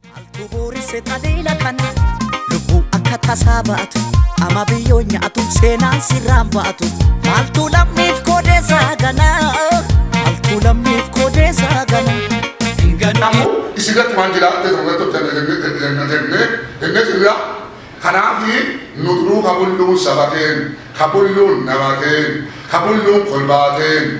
Maaltu booresse taliila kana lubbuu akka tasaa baatu ama biyyoo nyaatu seenaan sirraan baatu maaltu lammiif koodeessaa ganaa maaltu lammiif koodeessaa ganaa. Kanaafuu isi gatti waan jira ta'e irratti hojjannee jennee jennee jennee jirra. Kanaafi nu duruu kabulluun saba keenya, kabulluun nama keenya, kabulluun kolbaa keenya,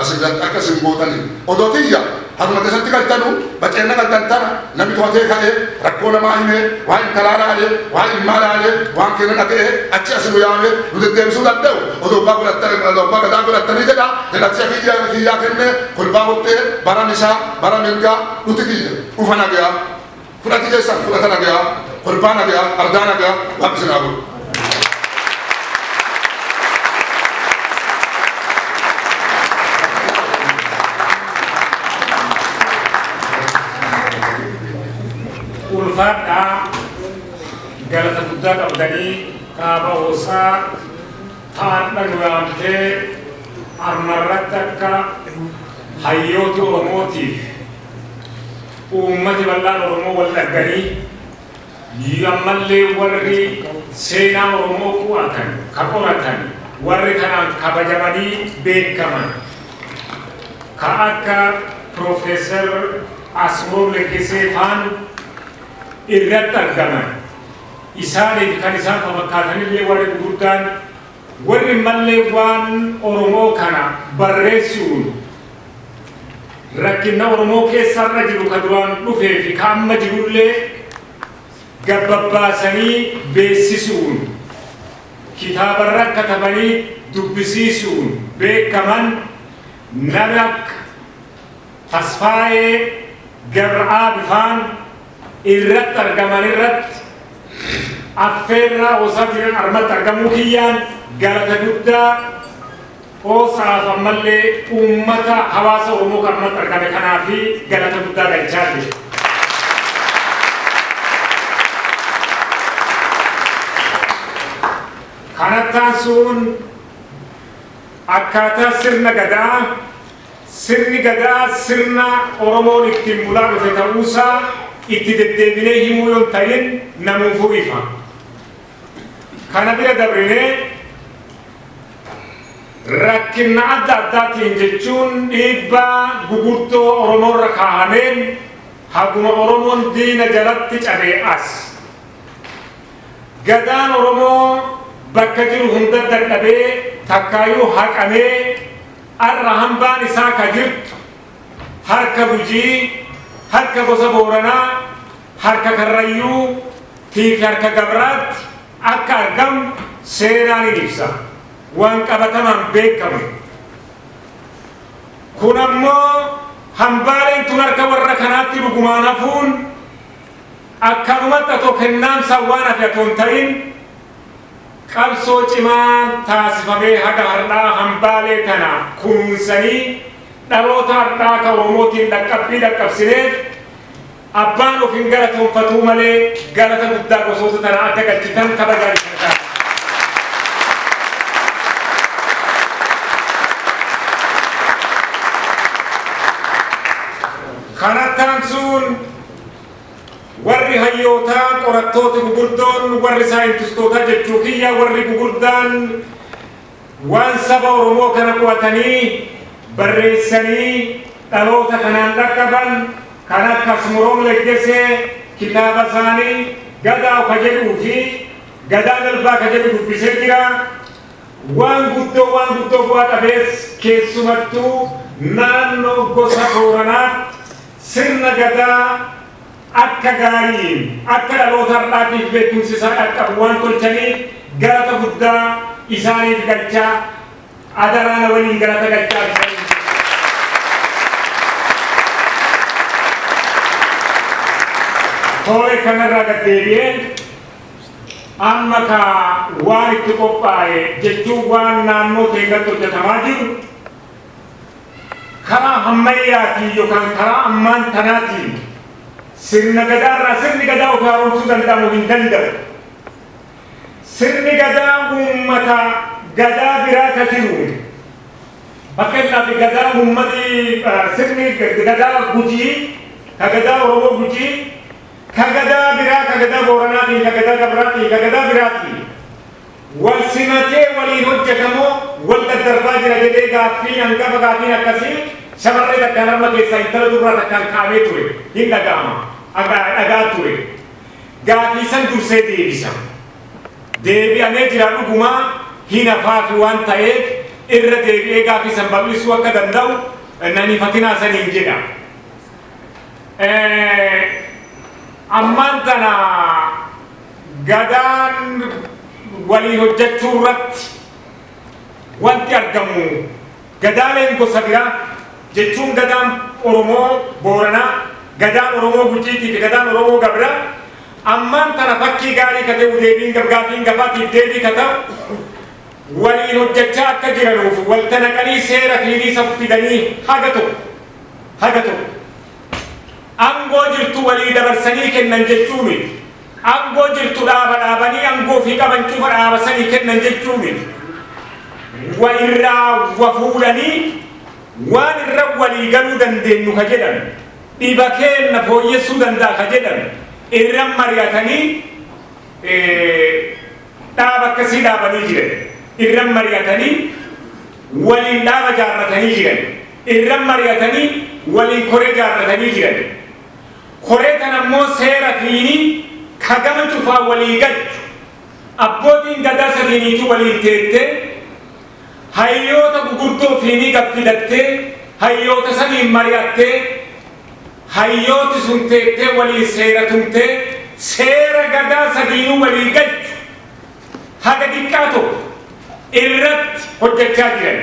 As irratti akka isin gootaniif. Odoo tiyya haruma keessatti galtanuu baceenna galtan tana nami tohatee ka'ee rakkoo namaa himee waan intalaa laalee waan ilmaa laalee waan keenna dhaga'ee achi asi nu yaamee nu deddeebisuu dande'u odoo abbaa godhattanii odoo abbaa gadaa godhattanii jedha jedhatia kiyya kiyyaa kennee kolbaa hottee bara misaa bara mirgaa dhuti tiyya dhufa nageyaa. Fudhati keessan fudhata nagayaa, kolfaa nagayaa, ardaa nagayaa waaqni isin haa godhu. ulfaadhaa galata guddaa qabdanii kaaba hoosaa taadha nu yaamtee armarratti akka hayyoota oromootiif Uummati bal'aan Oromoo wal dhagganii ii ammallee warri seenaa Oromoo qu'atan, ka qoratan, warri kanaan kabajamanii beekaman ka akka Piroofeesar Asmrom Leggesee faan irratti argaman. Isaanii fi kan isaan fafakkaatan illee warri guguddaan. Warri malleewwaan Oromoo kana barreessu'uun rakkinna Oromoo keessa har'a jiru ka duraan dhufee fi ka amma jirullee gabbabbaasanii beessisu'uun kitaabarra katabanii dubbisiisu'uun beekkaman nami akka Tasfaayee Gabr'aabifaan, irratti argaman irratti affeerraa Hosafiraan armatti argamuu kiyyaan galata guddaa Hosaaf ammallee uummata hawaasa Oromoo kan armatti argame kanaa fi galata guddaa galchaa jiru. Kanattaan suun akkaataa sirna gadaa Sirni Gadaa sirna Oromoon ittiin bulaa dhufe ta'uusaa itti deddeebinee himuu yoo hin ta'in namuufuu ifa. Kana bira dabrinee rakkinna adda addaatiin jechuun dhiibbaa gugurdoo Oromoorra kaahameen haguma Oromoon diina jalatti cabee as Gadaan Oromoo bakka jiru hunda dadhabee takkaayuu haqamee Ar'a hambaan isaa ka jirtu harka Gujii, harka gosa Booranaa, harka Karrayyuu, tii fi harka Gabraatti akka argamu seenaan hin ibsa. Waan qabatamaan beekkamu. Kun ammoo hambaaleen tun harka warra kanaatti dhugumaan hafuun akkanumatti atoo kennaamsaan waan hafe atoo hin ta'in, Qabsoo cimaan taasifamee haga hardhaa hambaalee tana kunuunsanii dhaloota hardhaa ka Oromootiin dhaqqabbii dhaqqabsineef abbaan of hin galatoonfatuu malee galata guddaa gosoota tana akka galchitan kabajaan isin gaafadha. Kanatti aansuun Warri hayyootaa, qorattooti gugurdoon, warri saayintistootaa jechuu kiyya warri gugurdaan waan saba Oromoo kana qo'atanii, barreessanii dhaloota kanaan dhaqqaban kan akka Asmoroom Leggesee kitaaba isaanii Gadaaw ka jedhuu fi Gadaa Dalbaa ka jedhu dubbisee jira. Waan guddoo waan guddoo bu'a qabeessa keessumattuu naannoo gosa Booranaatti. Sirna Gadaa akka gaariin akka dhaloota har'aatiif beekumsi isaa dhaqqabu waan tolchaniif galata guddaa isaaniif galchaa, adaraa na waliin galata galchaa isaniin jedha. Tole, kana irraa gad deebi'ee amma kaa waan itti qophaa'e jechuun waan naannoo keenyatti hojjetamaa jiru, karaa hammayyaatiin yookaan karaa ammaan tanaatiin sirna gadaa irraa sirni gadaa of haaromsuu danda'amu hin danda'u. Sirni gadaa uummata gadaa biraa ka jiru fakkeenyaaf gadaa uummati sirni gadaa gujii ka gadaa oromoo gujii ka gadaa biraa ka gadaa booranaatiin ka gadaa gabraatiin ka gadaa biraatiin wal simatee waliin hojjeta moo wal daddarbaa jira jedhee gaaffiin hangafa gaaffiin akkasii shamarree takkaan harma keessaa intala dubraa takkaan ka'amee ture hin dhaga'ama dhaga'aa ture gaafii san dursee deebisa deebi'amee jira dhugumaa hin hafaafi waan ta'eef irra deebi'ee gaafii san bal'isuu akka danda'u nan hifatinaa saniin jedha ammaan tana Gadaan waliin hojjechuurratti wanti argamu Gadaaleen gosa biraa jechuun Gadaan Oromoo Booranaa, Gadaan Oromoo Gujiitiifi Gadaan Oromoo Gabraa ammaan tana fakkii gaarii ka te'u deebiin gafgaafiin gafaatiif deebii ka ta'u waliin hojjechaa akka jiranuufi walta naqanii seera fiinii safu fidanii haga tokko haga tokko angoo jirtu walii dabarsanii kennan jechuu miti. Angoo jirtu dhaaba dhaabanii angoo fi qaban cufa dhaaba sanii kennan jechuu miti. Wa irraa wa fuudhanii waan irra walii galuu dandeennu ka jedhan, dhiba keenna fooyyessuu danda'a ka jedhan irra mari'atanii dhaaba akkasii dhaabanii jiran. Irra mari'atanii waliin dhaaba jaarratanii jiran. Irra mari'atanii waliin koree jaarratanii jiran. Koree kana immoo seera fiinii ka gama cufaan walii galchu, abbootiin gadaa sadiiniituu waliin teettee, hayyoota gugurdoo fiinii gad fidattee, hayyoota saniin mari'attee, hayyooti sun teettee waliin seera tumtee, seera gadaa sadiinuu walii galchu haga diqqaa tokko irratti hojjachaa jiran.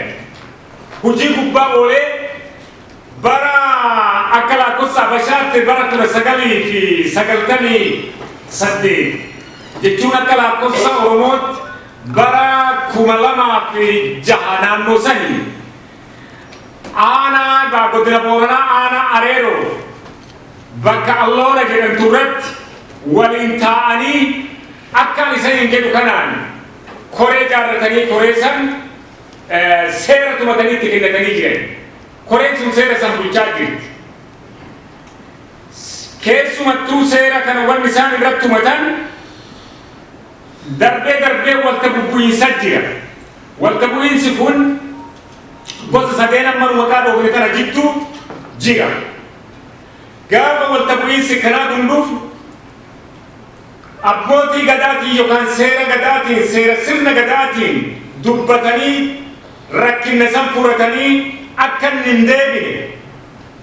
hojii gubbaa oolee bara akka lakkoofsa Habashaatti bara 1998 jechuun akka lakkoofsa Oromootti bara 2006 naannoo sanii aanaa egaa godina Booranaa aanaa Areeroo bakka Alloora jedhamtu irratti waliin taa'anii akkaan isaniin jedhu kanaan koree jaarratanii koree san seera tumatanii itti kennatanii jiran. Koreen sun seera san bulchaa jirti. Keessumattuu seera kana wanni isaan irratti tumatan darbee darbee walta bubbu'iinsa jira. Walta bu'iinsi kun gosa sadeen amma nu maqaa dhoofne kana jidduu jira. Gaafa walta bu'iinsi kanaa kun dhufu Abbootii Gadaatiin yokaan seera Gadaatiin, seera sirna Gadaatiin dubbatanii rakkinna san furatanii akka inni hin deebine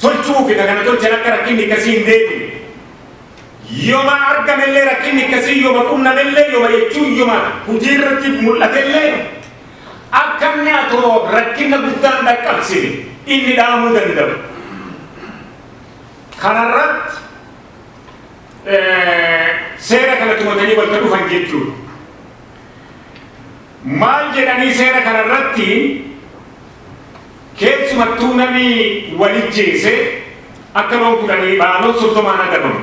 tolchu'uufi ka kana tolchan akka rakkinni ikkasii hin deebine. Yoma argamellee rakkinni ikkasii yoma qunnamellee yoma jechuun yoma hujii irratti mul'atellee akka inni atoo rakkinna guddaa hin dhaqqabsine inni dhaamuu danda'u. Kana irratti. seera kana tumatanii bakka dhufan jechuudha. Maal jedhanii seera kana irratti keessumattuu namni walijjeese akka loon kudhanii baaloo soddomaan adabamu.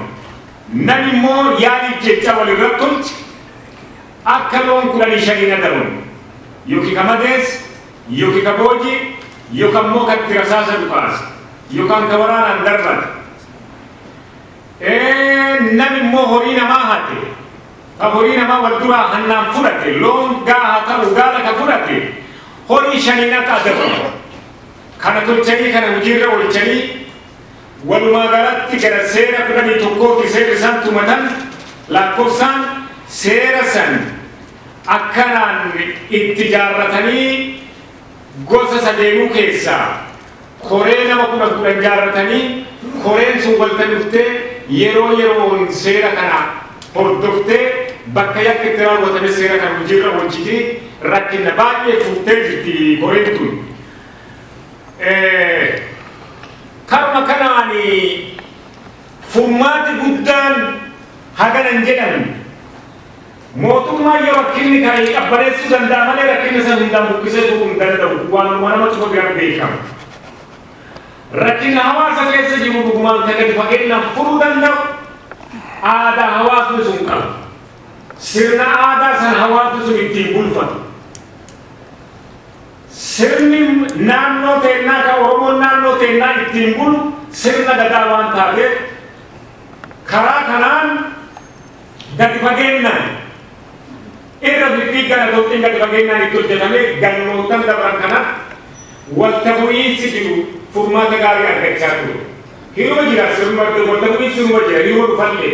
Namni immoo yaali jecha walirra tolche akka loon kudhanii shaniin adabamu. Yookiin kamadees Yoki ka booji, yoka immoo ka itti rasaasa dhukaase, yokan ka waraanaan darbate, ee, nami immoo horii namaa hate, ka horii namaa wal duraa hannaan fudhate, loon gaa haa ta'u gaala ka fudhate, horii shaniin akka adabamu, kana tolchanii kana hujii irra oolchanii, walumaa galatti gara seera 11 ti seerri isaan tumatan, laakkofsaan seera san, Akkanaan itti jaarratanii gosa sadeenuu keessaa koree nama kudhan kudhan jaarratanii koreen sun walta dhuftee yeroo yeroon seera kana hordoftee bakka yakki itti raawwatames seera kana hojiirra oolchiti rakkinna baay'ee furtee jirti koreen tun. Karuma kanaan furmaati guddaan hagana hin jedhamne. Mootummaan yoo rakkinni ka'e qabbaneessuu danda'a malee rakkinna san hundaan buqqisee tuquu hin danda'u. Waanuma nama cufa biratti beekamu. Rakkinna hawaasa keessa jiru dhugumaan ka gadi fageennaan furuu danda'u aadaa hawaasni sun qabu. Sirna aadaa san hawaasni sun ittiin bulfatu. Sirni naannoo teennaa ka Oromoon naannoo teennaa ittiin bulu sirna Gadaa waan taateef karaa kanaan Gadi fageennaan irra fiffiiggaan adoottiin gadi fageennaan itti hojjetame gannoottan dabran kana walta bu'iinsi jiru furmaata gaarii argachaa ture. Hiroo jira sirnuma walta bu'iinsi sirnuma jira hiroo dhufallee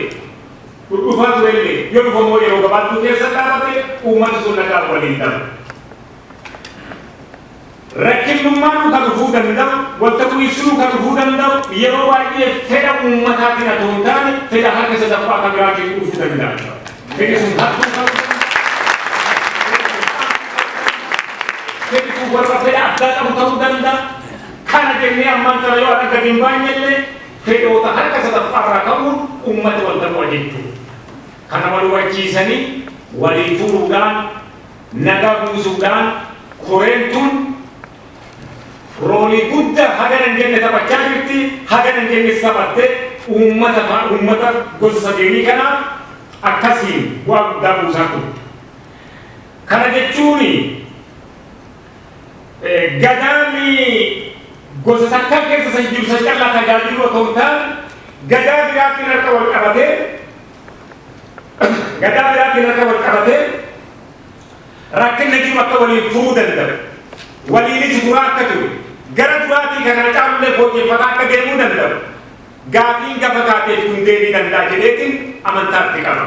dhudhufaa turellee yoo dhufammoo yeroo gabaabduu keessa dhaabate uummati sun nagaan waliin daba. Rakkinnummaan dhuka dhufuu danda'u, wanta bu'iinsi dhuka dhufuu danda'u yeroo baay'ee fedha uummataatiin atoo hin taane fedha harka sadaffaa ka biraatiin dhufu danda'a. Fedhi sun hattuu ta'uu fedhi sun warra fedha addaa qabu ta'uu danda'a. Kana jennee ammaan tana yoo adda gadi hin baanye illee fedhoota harka sadaffaa irraa ka'uun uummata wanta mo'a jechuudha. Kana wal hubachiisanii walii furuudhaan Naga buusuudhaan koreen tun roolii gudda hagana hin jenne taphachaa jirti, hagana hin jennes taphatte, uummata faa uummata gosa sadeenii kanaaf akkasiin bu'aa guddaa buusaa turte. Kana jechuun Gadaan gosa takkaa keessa san jiru san callaa tajaajiluu otoo hin taane Gadaa biraatiin harka wal qabatee, Gadaa biraatiin akka wal qabatee rakkinna jiru akka waliin furuu danda'u, waliinis furaa akka jiru, gara duraatii ka kana caalullee fooyyeffataa akka deemuu danda'u gaafiin gafataateef kun deebii danda'a jedheetiin amantaa itti qaba.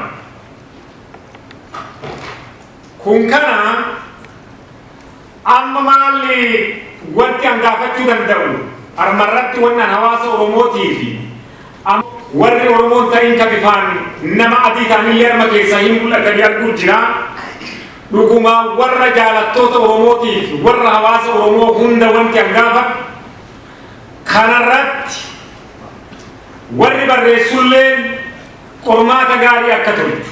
Kun kana Amma maalli wanti an gaafachuu danda'u armarratti wanni an hawaasa Oromootiifi amma warri Oromoon tariin ka bifaan nama adii ta'anillee arma keessaa hin mul'atanii arguu jira. Dhuguma warra jaalattoota Oromootiif warra hawaasa Oromoo hunda wanti an gaafadhu kanarratti warri barreessulleen qormaata gaarii akka tolchu.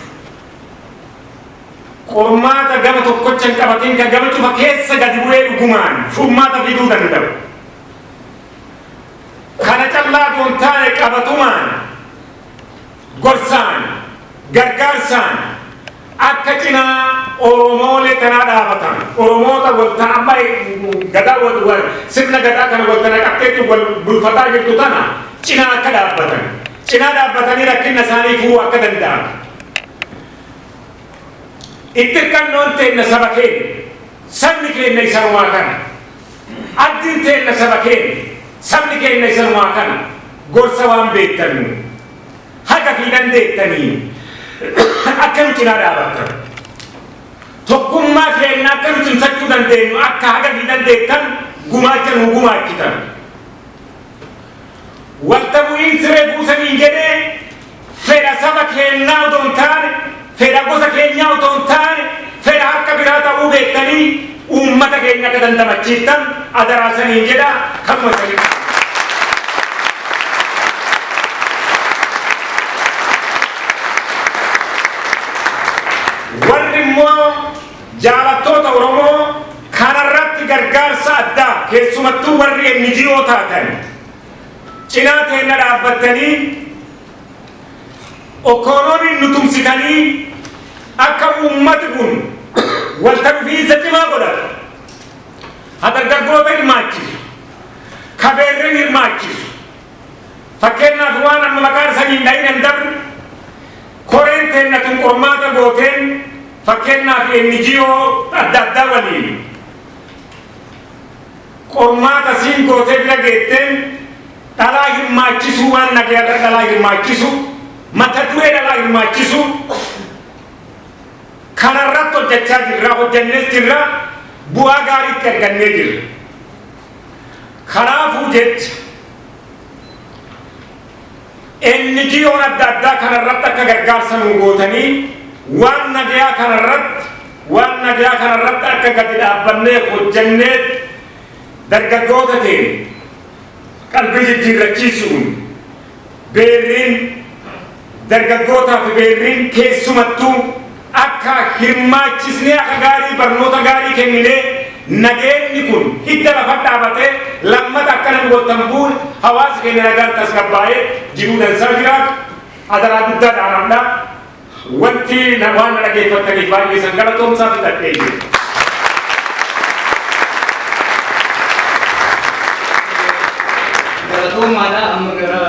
qormaata gama tokkocha hin qabatin ka gama cufa keessa gadi bu'ee dhugumaan furmaata fiduu danda'u. Kana callaa osoo hin taane qabatumaan gorsaan gargaarsaan akka cinaa Oromoolee kanaa dhaabatan Oromoota walta amma gadaa wal wal sirna gadaa kana walta naqatteetti wal bulfataa jirtu tana cinaa akka dhaabbatan. cinaa dhaabbatanii rakkinna isaanii furuu akka danda'an itti hirkannoon teenna saba keenya sabni keenya isanumaa kana abdiin teenna saba keenya sabni keenya isanumaa kana gorsa waan beektanu haga fi dandeettanii akka nu cinaa dhaabattan tokkummaa keenya akka nu cimsachuu dandeenyu akka haga fi dandeettan gumaacha nu gumaachitan Walta bu'iinsi refuu saniin jedhee fedha saba keennaa otoo hin taane, fedha gosa keenyaa otoo hin taane, fedha harka biraa ta'uu beektanii uummata keenya akka dandamachiiftan adaraa isaniin jedha. Kanuma isaniin dhaama. Warri immoo Jaalattoota Oromoo kanarratti gargaarsa addaa keessumattuu warri NGO taatan cinaa teenna dhaabbattanii Okoonoonin nu tumsitanii akka uummati kun walta dhufiinsa cimaa godhatu, ha dargaggoota hirmaachisu, ka beerren hirmaachisu, Fakkeennaaf waan amma maqaan sanii hin dhayin an dabru koreen teenna tun qormaata gooteen fakkeennaaf NGO adda addaa waliin qormaata siin gootee bira geetteen dhalaa hirmaachisuu waan nagayarra dhalaa hirmaachisu mata duree dhalaa hirmaachisu kanarratti hojjachaa jirra hojjannees jirra bu'aa gaariitti argannee jirra. Kanaafuu jecha NGOn adda addaa kana irratti akka gargaarsa nuu gootanii waan nagayaa kana irratti waan nagayaa kana irratti akka gadi dhaabbannee hojjannee dargaggoota ta'e qalbii jijjiirrachiisuun Beerriin dargaggootaa fi beerriin keessumattuu akka hirmaachisnee akka gaarii barnoota gaarii kenninee nageenni kun hidda lafa dhaabatee lammata akka namni wal tambuun hawaasi keenya nagaan tasgabbaa'ee jiruu dansaa jiraatu adaraa guddaa dhaamamdhaa. Wanti na waan dhageeffattaniif baay'ee san galatoomsaa fixadhee jiru. Galatoomaadha amma gara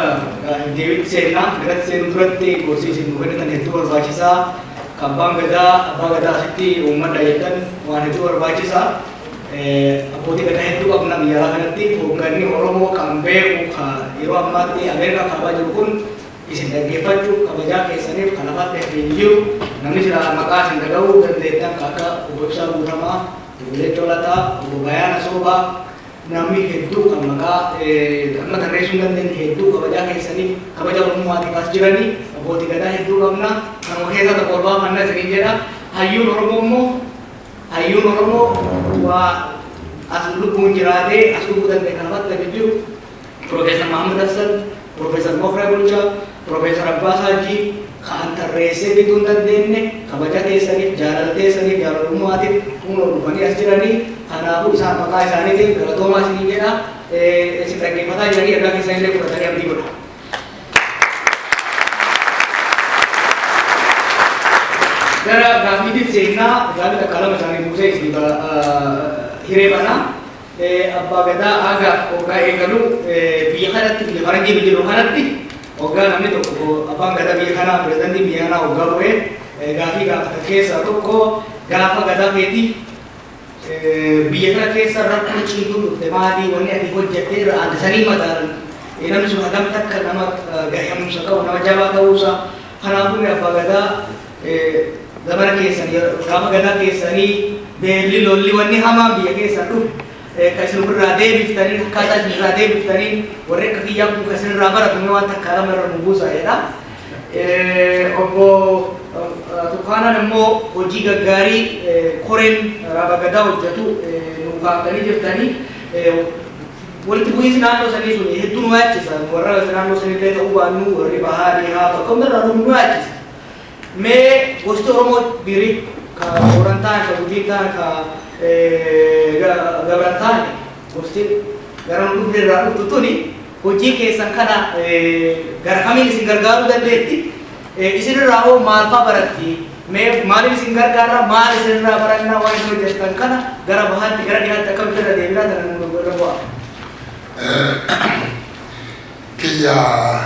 deebiitti seennaa garatti seenuu duratti gorsii isin nu kennitan hedduu barbaachisaa kan abbaan gadaa abbaa gadaa asitti uummadha jedhan waan hedduu barbaachisa abbootii gadaa hedduu qabna biyyaraa kanatti hoogganni Oromoo kan beeku yeroo ammaatti Ameerikaa kaabaa jiru kun Isin dhaggeeffachuuf kabajaa keessaniif kan afaan beektu hin jiru. Namni silaa maqaa isin dhagahuu dandeettan kan akka Obbo Ibsaa Guutamaa, Obbo Geetachoo Lataa, Obbo Bayaana Soobaa namni hedduu kan maqaa amma tarreessuu hin dandeenye hedduu kabajaa keessaniif kabaja Oromummaatiif as jiranii Abbootii Gadaa hedduu qabna. Kanuma keessaa tokko ol baafanna isiniin jedha. Hayyuun Oromoo immoo hayyuun Oromoo waa as lubbuun jiraatee as dhufuu danda'e kan afaan beektu hin jiru. Piroofeesar Mahaammad Hassan, Piroofeesar Mokra Bulchaa, Piroofeesar Abbaa Haajjii ka'an tarreessee fixuu hin dandeenne kabaja keessaniif, jaalala teessaniif, jaalalummaatiif kunoo dhufanii as jiranii. Kanaafuu isaan maqaa isaaniitiin galatoomaa isiniin jedha. Isin dhaggeeffataa jiranii ergaa keessan illee fudhatanii abdii godha. Gara gaaffiitiin seennaa gaaffii takkaa lama isaanii buusee isin hiree banaa. Abbaa Gadaa haga hoggaa eegalu biyya kanatti biyya Harargee biyya jedhamu kanatti hoggaa namni tokko abbaan Gadaa biyya kanaa pirezidaantiin biyya kanaa hoggaa bu'e gaafii gaafatan keessaa tokko gaafa Gadaa keeti biyya kana keessa rakkoo ciituun dhufte maalii wanni ati hojjattee irra aadde sanii madaalan namni sun hagam takka nama gahumsa qabu nama jabaa ta'uusaa kanaafuu abbaa Gadaa Zabana keessan gafa gadaa keessanii beelli lolli wanni hamaan biyya keessaa dhufe ka isin ofirraa deebiftaniin akkaataa isin irraa deebiftaniin warri akka kiyyaa kun ka isin irraa baratu mee waan takkaa lama irra nu buusaa jedha. Obbo Tukaanaan immoo hojii gaggaarii koreen raaba gadaa hojjetu nu kaaftanii jirtanii walitti bu'iinsi naannoo sanii sun hedduu nu yaachisa warra naannoo sanillee ta'uu baannu warri bahaa dhihaa tokko irraa nu yaachisa. Mee gosti Oromoo dhirii ka Booran ta'an, ka Gujii ta'an, ka Gabran ta'an gosti gara nu dhufne irraa dhuftu tuni hojii keessan kana gara kamiin isin gargaaruu dandeetti? Isin irraa hoo maal fa'aa baratti? Mee maaliif isin gargaara? Maal isin irraa baranna? Waan isin hojjettan kana gara bahaatti, gara dhihaatti akkamitti irra deebinaa sana nu irra bu'aa? kiyyaa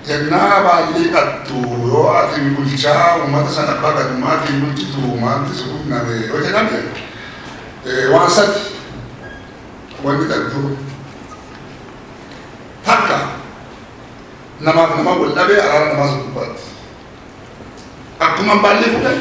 jagnaa baay'ee qabdu yoo atin bulchaa ummata san abbaa gadummaatiin bulchitu maalti si qunname yoo jedhame waan sadi wanni qabdu takka namaaf nama wal dhabee araara namaa sun gubbaatti akkuma baallii fuudhan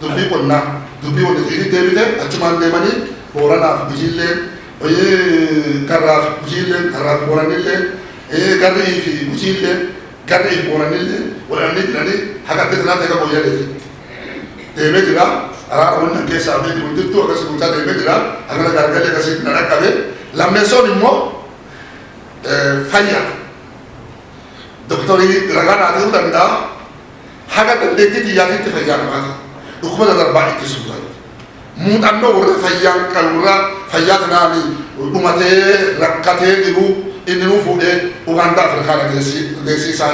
Dubbii qonnaa, dubbii waliifiitti deebite achumaan deemanii Booranaaf Gujiilleen, Garraaf Gujiilleen, Garraaf Boorannilleen, Garri'ii fi Gujiilleen, Garri'ii fi Boorannilleen wal dhabanii jiranii haga adda tanaatti haga Mooyyaleetitti deemee jira. Araara wanni an keessaa beeku hin jirtu akkasi guutaa deemee jira. Hagana gaargalli akkasitti na dhaqqabe. Lammeessoon immoo fayyaa. Doktorii ragaa naa ta'uu danda'a. haga dandeettii xiyyaatiitti fayyaanumaati dhukkuba dadarbaa ittisuu irratti muuxannoo warra fayyaan kan warra fayyaa kanaan dhumatee rakkatee jiru inni nuu fuudhee Ugaandaa Afrikaa dhageessii isaa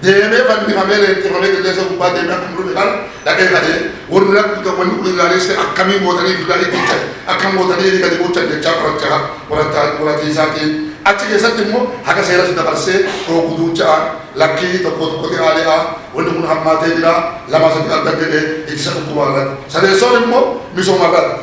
deemee fannifamee leenxifamee qilleensa gubbaa deemee akkuma dhufe kan dhaqee kadhee warra wanni kun ilaalesse akkamiin gootanii duudhaa itticha akkam gootanii inni gadi bulchan jechaa qorachaa qorataa qoratii isaatiin achi keessatti immoo haga seeras dabarsee dhoogu duuchaa Lakkii tokkoo tokkoti aali'a wanni kun hammaatee jira lamaa sadii argan jedhe ittisa dhukkubaa irratti. Sadeessoon immoo misooma irratti.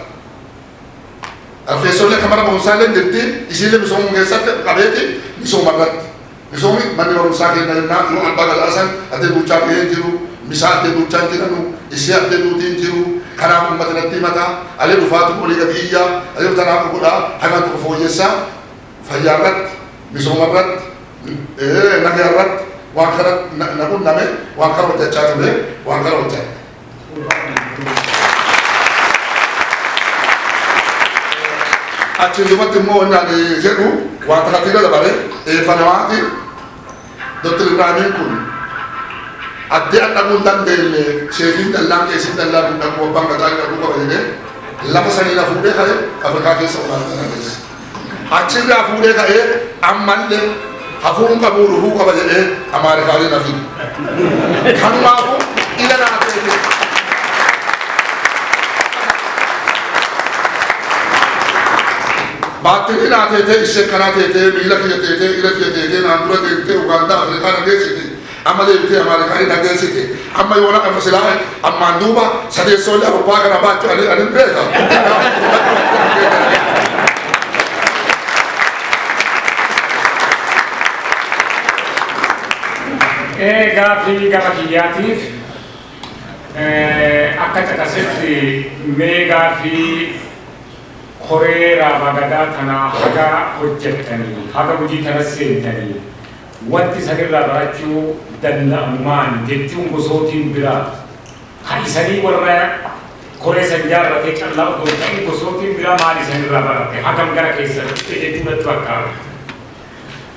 Arfeessoollee kan mana barumsaallee jirti isiillee misoomuu keessatti qabeeti misooma irratti. Misoomi manni barumsaa keenya jennaa yoo albaa galaasan addee duuchaa bahee jiru misaa addee duuchaan jiranu isii addee duutiin jiru kanaaf ummata natti himata alee dhufaatu olii gadi iyyaa alee tanaa godhaa hagaan tokko fooyyessaa fayyaa irratti, misooma irratti, nagaa irratti waan kana na qunname waan kana hojjechaa ture waan kana hojjadhe. Achiin duubatti immoo wanni ani jedhu wanta kantiira dabale eebba namaati. Dr. Ibraaniin kun addee an dhaquu hin dandeenye seefiin dallaan qeesiin dallaa kun dhaquu abbaan gadaa dhaquu qaba jedhee lafa sanii na fuudhee ka'e Afrikaa keessa olaanaa kana keessa. Achirraa fuudhee ka'ee ammallee hafuun qabuu dhufuu qaba jedhee Amaarikaalee na fide. Kanumaafuu ila naa feete. Baatteetee naa teetee ishee kanaa teetee miila kiyya teetee ila kiyya teetee naan dura deemtee Ugaandaa Afrikaa na geessite amma deebitee Amaarikaanii na geessite amma yoona kana silaa ammaan duuba sadeessoollee Awurooppaa kana baachuu ani ani beeka Ee gaaffii gama kiyyaatiif eh, akka caqasetti mee gaaffii Koree Raabaa Gadaa tanaa haga hojjattanii, haga hujii tanas seentanii, wanti isan irraa barachuu danda'amu maani jechuun gosootiin biraa, ka isanii warra koree san jaarratee callaa odoo hin ta'in gosootiin biraa maal isan irraa baratte, hagam gara keessan dhufte jechuu natti fakkaata.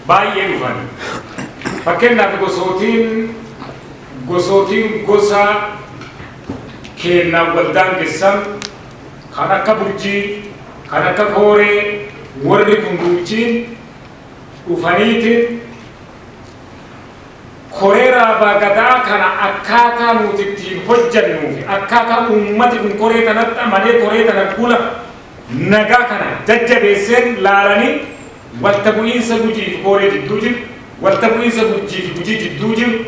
Baay'ee dhufan. Fakkeennaaf gosootiin, gosootiin gosa keennaan wal daangessan, Kan akka Burjii, kan akka Kooree warri kun gumichiin dhufaniiti Koree Raabaa Gadaa kana akkaataa nuti ittiin hojjannuu fi akkaataa uummati kun koree tanatti amanee koree tana gula nagaa kana jajjabeesseen laalanii walta bu'iinsa Gujii fi Kooree jidduu jiru, walta bu'iinsa Burjii fi Gujii jidduu jiru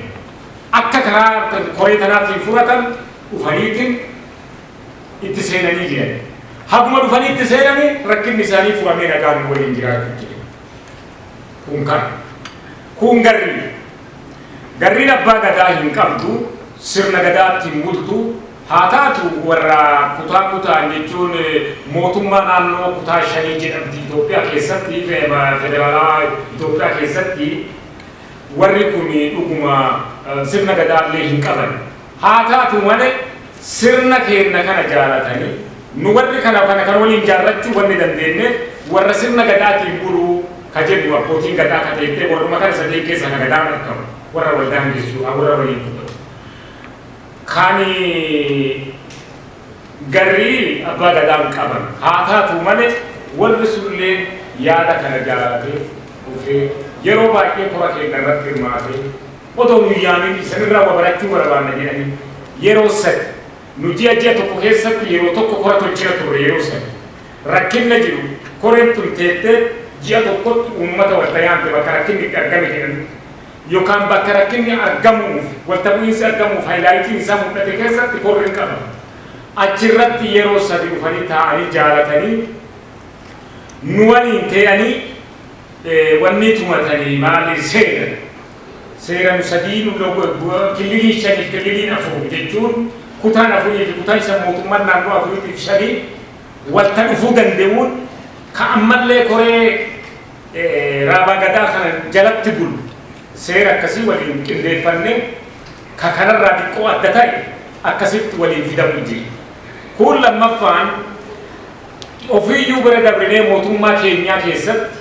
akka karaa koree tanaatiin furatan dhufaniitiin itti seenanii jiran. Haguma dhufanii itti seenani rakkinni isaanii furamee nagaan waliin jiraachuu jiru. Kun kan. Kun garri. Garriin abbaa gadaa hin qabdu, sirna gadaatti hin bultu, haa taatu warra kutaa kutaan jechuun mootummaa naannoo kutaa shanii jedhamti Itoophiyaa keessatti, federaalaa Itoophiyaa keessatti warri kun dhuguma sirna gadaa illee hin qaban. Haataatu malee sirna keenna kana jaalatanii nu warri kana kana kana waliin jaarrachuu wanni dandeenneef warra sirna Gadaatiin buluu ka jennu abbootiin Gadaa ka teettee warruma kana sadeen keessaa ka Gadaan argamu warra wal daangessu ka warra waliin dubbatu kan garrii Abbaa Gadaan qaban. Haataatu malee warri sunilleen yaada kana jaalatee dhufee yeroo baay'ee kora keenna irratti hirmaatee, Otoo nu hin yaamin isan irraa wa barachuu barabaanna jedhanii yeroo sadi nu ji'a ji'a tokko keessatti yeroo tokko kora tolchina turre yeroo sadi rakkinna jiru koreen tun teettee ji'a tokkotti uummata walta yaamte bakka rakkinni itti argame jedhanitti yokaan bakka rakkinni argamuuf walta bu'iinsi argamuuf hayilaayitiin isaa mul'ate keessatti korri hin qabama achirratti yeroo sadi dhufanii taa'anii jaalatanii nu waliin tee'anii wannii tumatanii maali seena Seera nu sadii nu lo killiliin shaniif killiliin afur jechuun kutaan afurii fi kutaan shan mootummaan naannoo afuriitiif shani walta dhufuu dande'uun ka ammallee koree Raabaa Gadaa kana jalatti bulu seera akkasii waliin qindeeffanne ka kanarraa diqqoo adda ta'e akkasitti waliin fidamu jira. Kuun lammaffaan ofiiyyuu bira dabrinee mootummaa keenyaa keessatti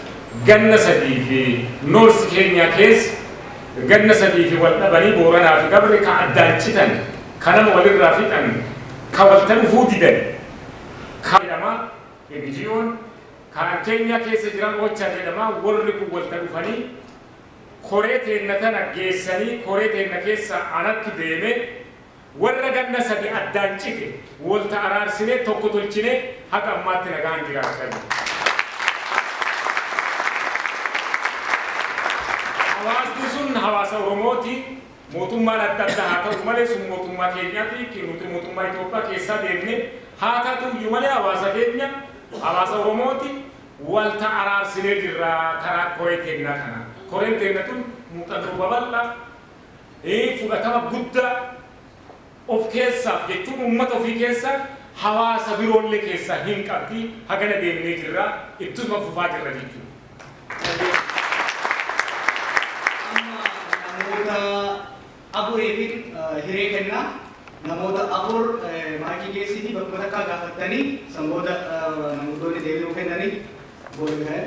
Ganna sadii fi North Kenya keessa ganna sadii fi wal dhabanii Booranaa fi Gabre ka addaan citan, ka nama wal irraa fixan, ka wal ta dhufuu didan, ka jedhama NGOn kaan Kenya keessa jiran Ocha jedhama worri kun wal ta dhufanii koree teenna tana geessanii koree teenna keessaa anattu deeme Warra ganna sadi addaan cite wolta araarsinee tokko tolchinee haga ammaatti nagaan jiraachaa jirra. Hawaasni sun hawaasa Oromooti. Mootummaan adda adda haa ta'u malee sun mootummaa keenyati. Nuti mootummaa Itoophiyaa keessaa deemne. Haa tatu iyyuu malee hawaasa keenya hawaasa Oromooti. Walta araarsinee jirra karaa koree teennaa kanaan. Koreen teenna tun muuxannoo babal'aa. fudhatama guddaa of keessaaf jechuun uummata ofii keessa hawaasa biroollee keessaa hin qabdi hagana deemnee jirra ittuma fufaa jirra jechuudha. Amma namoota afuriifin hiree kenna. Namoota afur maayikii geessiitii bakkuma takkaa gaafattanii san booda manguddoonni deebii nuu kennanii go ahead.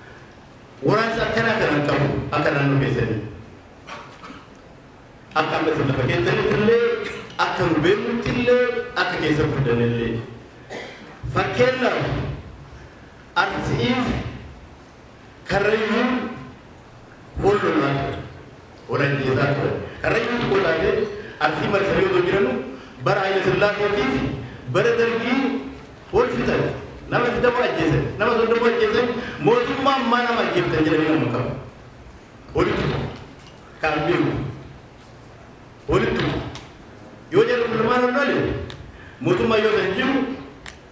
Waraansa akkanaa kana hin qabu akka naannoo keessanii. Akka amma isin lafa keessanitti illee akka nu beeknutti illee akka keessa guddanne illee. Fakkeenyaaf Arsi'iif Karrayyuun wal lolaa ture. Onan jirataa ture. Karrayyuu tokko taatee Arsii marsanii otoo jiranuu bara Hayila Sillaaseetii fi bara Dargii wal fixan. Nama 20 ajjeesan, nama 30 ajjeesan, mootummaa ammaa nama ajjeeftan jedhanii nama hin qaban. Walitti tuqu. Kaan beeku. Walitti tuqu. Yoo jarri kun lamaan ol dhale mootummaa yoo san jiru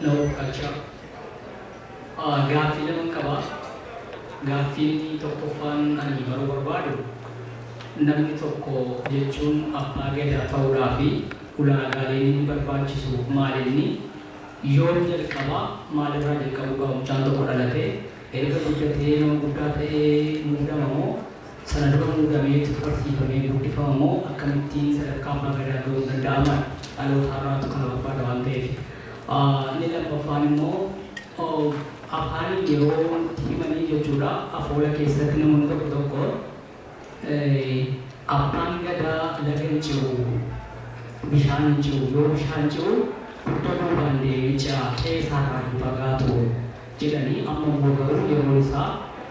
Labour Culture. Gaaffii laman qaba. Gaaffiin tokkoffaan ani baruu barbaadu namni tokko jechuun Abbaa Gadaa ta'uudhaaf ulaagaaleen inni barbaachisu maalinni? Yoom jalqaba? Maalirraa jalqabuu qaba mucaan tokko dhalatee? Erga guddatee nama guddaa ta'ee muudama moo? Sanadoota muudamee itti tuqarsiifamee guddifama moo akkamitti sadarkaa abbaa gadaa ga'uun danda'ama? Dhaloota har'aatu kana barbaada waan ta'eef. Inni lammaffaan immoo afaaniin yeroo nutti himanii jechuudha afoola keessatti namoonni tokko tokko abbaan gadaa laga hin ce'u, bishaan hin ce'u, yoo bishaan ce'u dugda duubaan deemee ce'a, qe'ee isaarraa hin fagaatu jedhanii amma immoo garuu yeroon isaa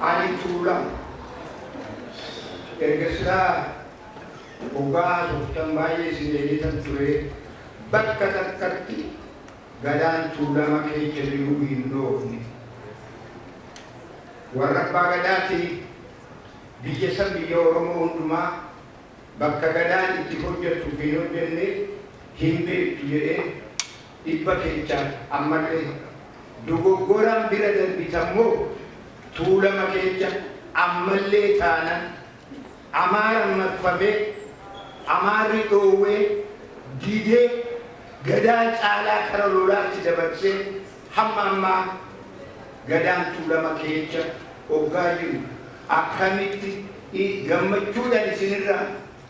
Ani tuula erga silaa oggaa haasoftan baay'ee isin deebitan ture bakka takkatti gadaan tuulama keecha jiruu hin dhoofne. Warra abbaa gadaati biyya san biyya Oromoo hundumaa bakka gadaan itti hojjattu fi hin hojjanne hin beektu jedhee dhibba kechaan ammalle dogoggoraan bira darbitan moo tuulama kecha ammallee taanan amaaran marfamee amaarri dhoowwee didee gadaa caalaa kara lolaatti dabarsee hamma ammaa gadaan tuulama keecha oggaa jiru akkamitti gammachuudhan isinirraa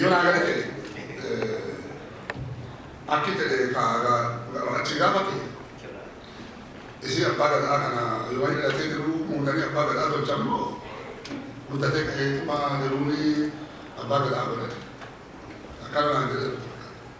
Yoo naa gale ta'e akki ta'e kaagaa achi gaafate isii abbaa gadaa kana yoo waan dhalatee jiru muudanii abbaa gadaa tolchan moo guddatee ka'ee tumaa jiruuni abbaa gadaa godhate akkana naan jedhe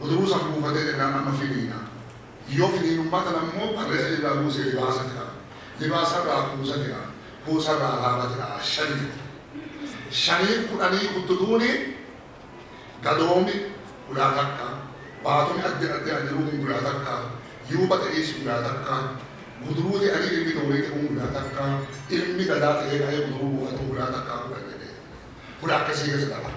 Uturuu san buufatee jennaan amma finiina. Yoo finiinummaa tana ammoo qarreessa irraa buusee libaasa jira. Libaasa irraa kuusa jira. Kuusa irraa alaaba jira. Shani jira. Shaniin kudhanii kuttutuuni gadoomi gulaa takka, baatumi addi addi an jiruu kun gulaa takka, yuuba ta'iisi gulaa takka, guduruu te'anii ilmi doorii te'uun gulaa takka, ilmi gadaa ta'ee ka'ee guduruu buufatuun gulaa takkaa kudhan jedhee. Gulaa akkasii keessa dabara.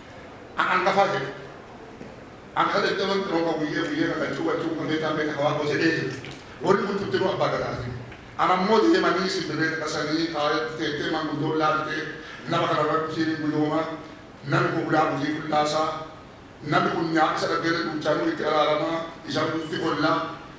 An angafaa jedhe. An ka daddaban xiroo ka guyyee guyyee ka qachuu qachuu ka meetaa meeta ka waagoo jedhee jedhe. Worri kun cuftinuu abbaa gadaati. An ammoo deemanii simbirree dhadhasanii kaaretti teettee manguddoon laaltee nama kana irra dhufiin hin guyooma, nami kun hulaa hujii fullaasaa, nami kun nyaaphi isa dhaggeelle duuchaanuu itti araaramaa, isa quufti kollaa,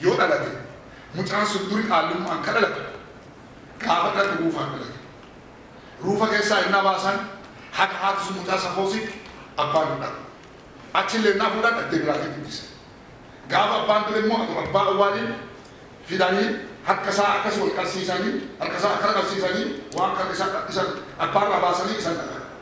yoo dhalate mucaan sun duri qaallummaan ka dhalate gaafa dhalate ruufaan dhalate. Ruufa keessaa hennaa baasan haga haati sun mucaa san hoositti abbaan hudhaa. Achillee hennaa fuudhan dhaddee biraatti guddisan. Gaafa abbaan du'e immoo adoo abbaa awwaalin fidanii harka isaa akkas wal qarsiisanii harka isaa akkana qarsiisanii waan karra isaa isa abbaa irraa baasanii isan dhaqan.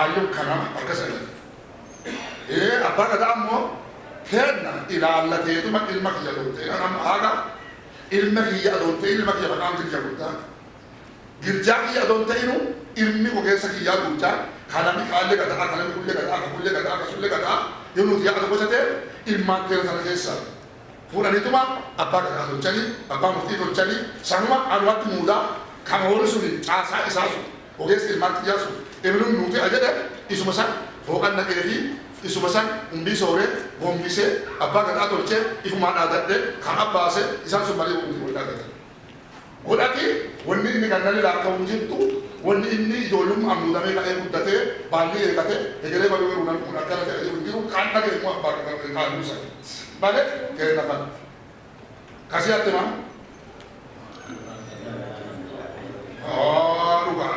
Ayyuu kana akkas jedhan. Ee abbaa gadaa ammoo kenna ilaallateetuma ilma kiyya dhufte. Kanam haadha ilma kiyya adoon ta'in ilma kiyya maqaan girja guddaa. Girjaa kiyya adoon ta'inu ilmi ogeessa kiyyaa guddaa kanami kaallee gadaa kanami kullee gadaa kakullee gadaa kasullee gadaa yoo nuti yaada gosa ta'e ilmaan keenya sana keessaa. Fuudhaniituma abbaa gadaa tolchanii, abbaa murtii tolchanii, sanuma anumatti muudaa, kan horii suni caasaa isaa sun, ogeessi ilmaan kiyyaa sun, ebeluun nuu te'a jedhe, isuma san hooqan naqeefii, isuma san hundii sooree, gombisee, abbaa gadaa tolchee, ifumaa dhaadadhee, kan abbaase, isaan sun malee womti wol dhaadatan. godhate, wonni inni gannale laakka'u hin jirtu, wonni inni ijoollumma'aan muudamee ka'ee guddatee, baallii eegate, hegeree baduu garuu hin arguu, akkana jedha jedhu hin jiru, ka ani dhage'e immoo abbaa kiyya irraa ka ani dursani dhale keenna kana. Ka si hatte maan? Haa dhugaa!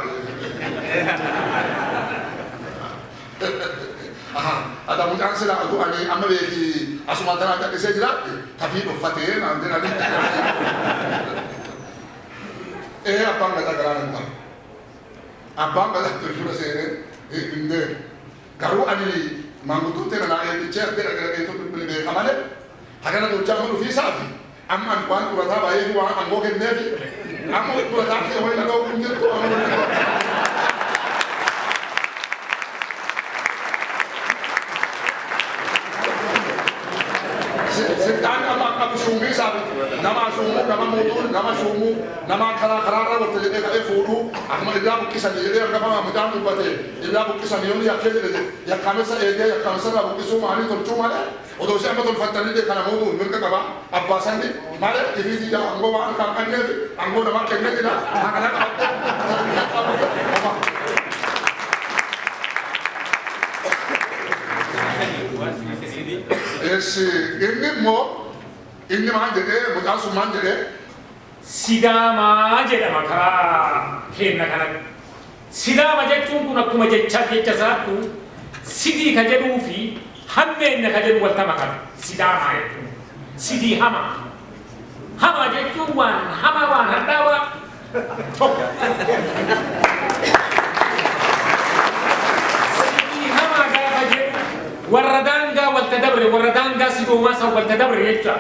Ahaa ada mucaan silaa utuu ani amma beeki asumaan tanaa gadhisee jiraadhe tafii dhoffatee naan jedhani ee abbaan gadaa garaa nan ta'a abbaan gadaa tirfina seenee hin deemu garuu ani maanguddoon tee nanaa eebbichee addee dhaqee dhaqee tun bilbile beeka malee hagana bulchaa amma dhufii isaati Amma ani waan xurataa baay'eetu waan angoo kenneefi amma xurataa kee wayii na dhowwuu hin jirtu amma wayii na dhowwuu. Sittaan amma qabu shuumii isaa nama shuumuu nama muuxuu nama shuumuu nama karaa karaa irraa walitti jedhee ka'ee fuudhuu akkuma irraa buqqisanii jedhee hangafamaa midhaan dubbatee irraa buqqisanii yoonni yakkee jedhe jedhe yakkaamessa eegee yakkaamessa irraa buqqisuu maalii tolchuu malee Odo isi amma tolfattanille kana mo'uuf mirga qaba, abbaa sanni male ifii tiyya angoo waan harkaa hin qanneef angoo namaa kenne jira, taa kana qabadhe, taa kana biyya qabadhe, homaa. Eessi inni immoo inni maal jedhee mucaan sun maal jedhee? Sidaamaa jedhama karaa keenna kanatti. Sidaama jechuun kun akkuma jechaa jecha isaattu sidii ka jedhuu fi hammeenna ka jedhu walta makame. Sidaamaa jechuun sidii hamaa. Hamaa jechuun waan hamaa waan hadhaawaa tokko. Sidii hamaa gaafa jedhu warra daangaa walta dabre warra daangaa sidoomaa san walta dabre jecha.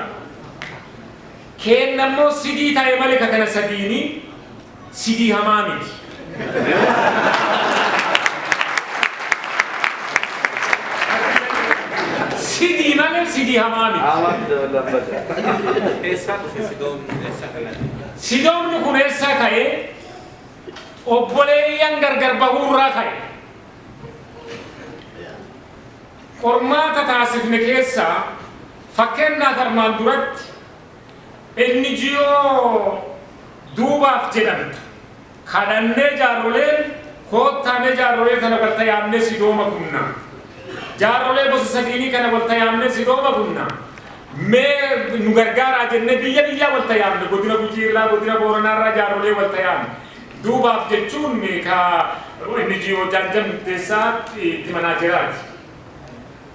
Keenna immoo sidii taa'e malee ka kana sadiini. Sidii hamaa miti. Sidii malee sidii hamaa miti. Eessaa dhufe sidoomni eessaa kanatti? Sidoomni kun eessaa ka'e? Obboleeyyan gargar bahuurraa ka'e. Qormaata taasifne keessaa fakkeenyaaf armaan duratti NGO Duubaaf jedhamtu kadhannee jaarroleen koottaa mee jaarrolee tana walta yaamnee Sidooma kunnaa. Jaarrolee gosa sadiinii kana walta yaamnee Sidooma kunnaa. Mee nu gargaaraa jennee biyya biyyaa walta yaamne godina Gujii irraa godina Booranaa irraa jaarrolee walta yaamne. Duubaaf jechuun ka NGO Jaanjan Murteessaa itti manaajeraati.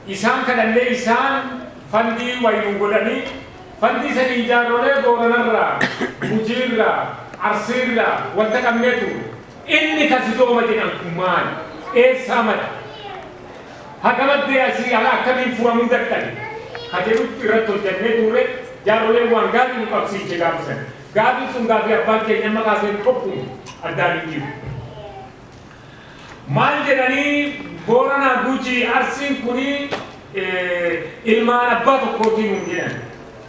Isaan kanallee isaan fandii wayi nuu godhanii, fandii saniin jaarrolee Booranarraa, Gujiirraa, Arsiirraa walta qabnee turre. Inni ka Sidooma jedhan kun maali? Eessaa madde? Haga maddee asii hala akkamiin furamuu dadhabe? ka jedhutti irratti hojjannee turre, jaarroleen waan gaarii nu qabsiiche gaafa san. Gaafiin sun gaafii abbaan keenya amma kaaseen tokkuma, addaan hin jiru. Maal jedhanii Booranaa Gujii Arsiin kuni ilmaan abbaa tokkootii nuun jedhan.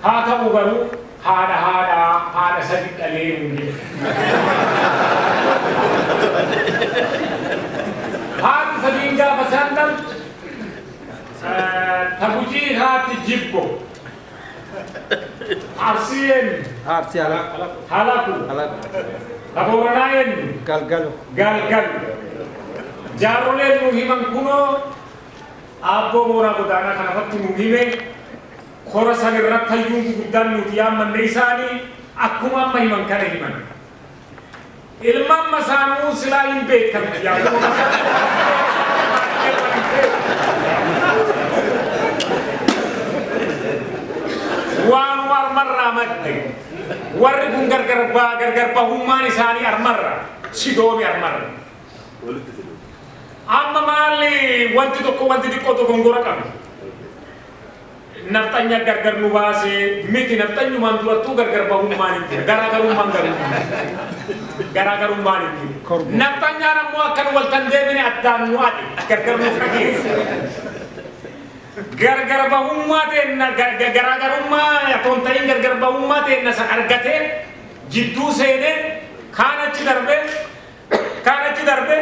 Haa ta'uu garuu haadha haadha haadha sadi dhalee nuun jedhan. Haati sadiin gaafa isaan dhaltu ta Gujii haati Jibbo. Arsii eenyu? Arsii halaku. Halaku. Halaku. Kabooranaa eenyu? Galgalu. Galgalu. Jaarroleen nu himan kunoo aabboo mooraa godaanaa kanarratti nu hime kora san irratti hayyuun guguddaan nuti yaammanne isaanii akkuma amma himan kana himan. Ilman masaanuu silaa hin beektan biyyaa kun waanuma armarraa madde warri kun gargar ba- gargar bahummaan isaanii armarra sidoomi armarra amma maalli wanti tokko wanti xiqqoo tokko hin gora qabu Nafxanya gargar nu baase miti nafxanyumaan durattuu gargar bahummaan hin jira garaagarummaan garuu hin jiru garaagarummaan hin jiru nafxanyaan ammoo akka nu waltan deebine addaan nu adhe gargar nu fageesse gargar bahummaa teenna ga- ga- garaagarummaa otoo hin ta'in gargar bahummaa teenna san argatee jidduu seenee kaan achi darbee kaan achi darbee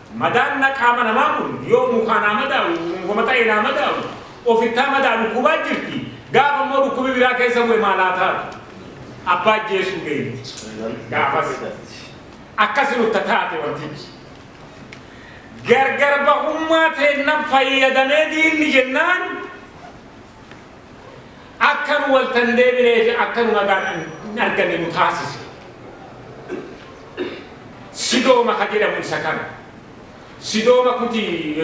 Madaan na qaama namaa kun yoo mukaa naa madaalu, mukuma ta'ee naa madaalu, ofittaa madaa dhukkubaa jirti, gaafa immoo dhukkubi biraa keessa bu'e maal haa taatu? Abbaa ajjeesuu geenye. Gaafas akkasi nutta taate wantichi. Gargar bahummaa teenna fayyadamee diinni jennaan, akka nu wal tan deebinee fi akka nu nagaan hin arganne nu taasise. Sidooma ka jedhamu isa kana. Sidooma kuti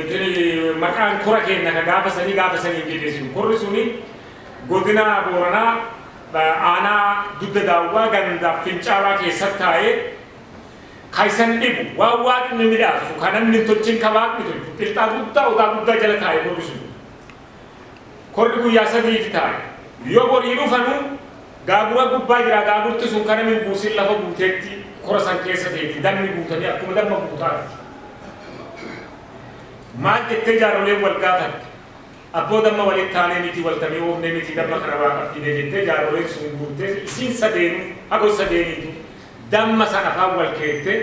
maqaan kora keenya ka gaafa sanii gaafa sanii jedheesin korri suni godina Booranaa aanaa dugda daawwaa gandaa fincaalaa keessatti taa'ee ka isan dhibu waan waaqni midhaasu ka namni hin tolchin ka waaqni tolchu qilxaa guddaa odaa guddaa jala taa'e korri suni. Korri guyyaa sadi'iif taa'e. Yoo borii dhufanu, gaagura gubbaa jira, gaagurti sun ka nami hin buusin lafa buutetti kora san keessa teetti, dammi guutanii akkuma damma guutaatti. Maal jettee jaaroleen wal gaafatte? Abboo damma walitti taanee mitii wal tamee oofnee mitii damma kana Waaqaaf fiine jettee jaaroleen sun guuttee isiin sadeenuu, hago sadeeniituu damma san afaan wal keette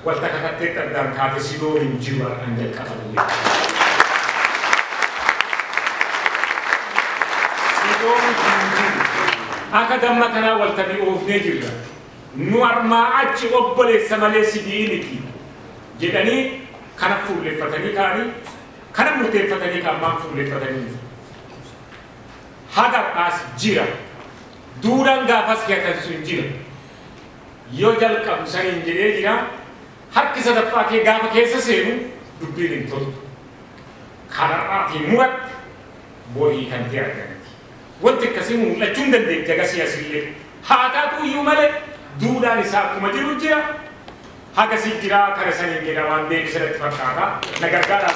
Wanta kakattetti addaan kaate si dhooru hin jiru har'aan jalqabanii jechuudha. Si dhooru hin jiru. Akka damma kanaa wal tabi'oofnee jirra. Nu armaa achi obboleessa malee sibi'ii miti jedhanii kana fuulleffatanii ka'anii kana murteeffatanii kan maan fuulleffatanii haga har'aas jira. Duudhaan gaafas hiyatan sun jira. Yoo jalqabu saniin jedhee jira, harki sadaffaa kee gaafa keessa seenu dubbiin hin toltu. Kan har'aatiin muratte bor hiikamtee argamti. Wanti akkasii mul'achuu hin dandeetti hagasii asillee. Haa taatu iyyuu malee duudhaan isaa akkuma jiru jira. Hagasii jira kana saniin jedha waan deebise natti fakkaata. Na gargaaraa.